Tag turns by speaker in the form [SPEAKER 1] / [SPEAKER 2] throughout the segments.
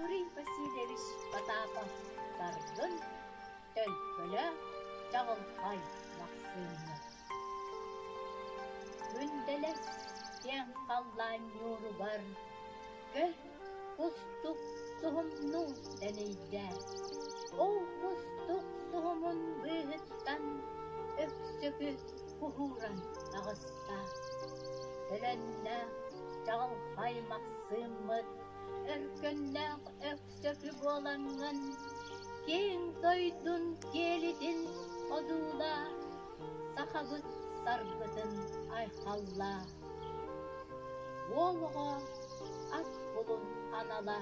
[SPEAKER 1] Юрий Васильевич Потапов Даргын Төлкөлөөх Чаҕылхай Махсыымы Күндэлэс киэҥ халлаан ньууругар көл кустук суһумнуу дэнийдэ. Ол кустук суһумун быыһыттан Өксөкү куһууран таҕыста, төлөннө чаҕылхай Максыммыт, өркөннөөх Өксөкү буолаҥҥын, киэҥ дойдун киэлитин одуулаа, сахабыт саргытын айхаллаа. Уол оҕо ат кулун анала,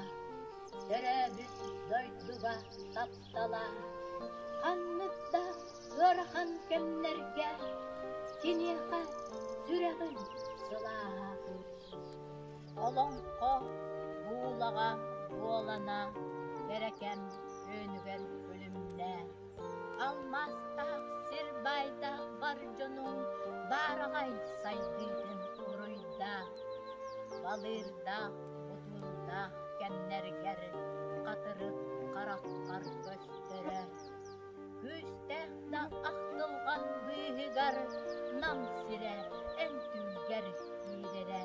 [SPEAKER 1] төрөөбүт дойдуга тап талаан ханнык да ыарахан кэмнэргэ киниэхэ сүрэҕин сылааһатыыр олоҥхо буулаҕа буолана бэрэкэм өөнүгэр күлүмнээн алмаастаах сир баайдаах бар дьонум баараҕай сайдыытын уруйдаах балыырдаах Утумнаах кэмнэргэр хатырык хараххар көстөрө күүстээх да ахтылҕан быыһыгар Нам сирэ эн түүлгэр киирэрэ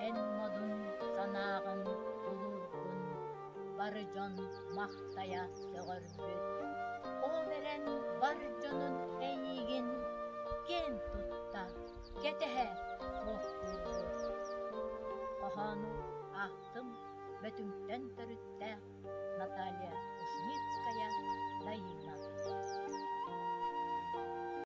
[SPEAKER 1] Эн модун санааҕын булуургун бары дьон махтайа сөҕөр Ол эрэн бар дьонун эйиигин киэн тутта кэтэһэ буолуохтуун хоһоону аахтым Бөтүҥтэн төрүттээх Наталья Кушницкая Дайыына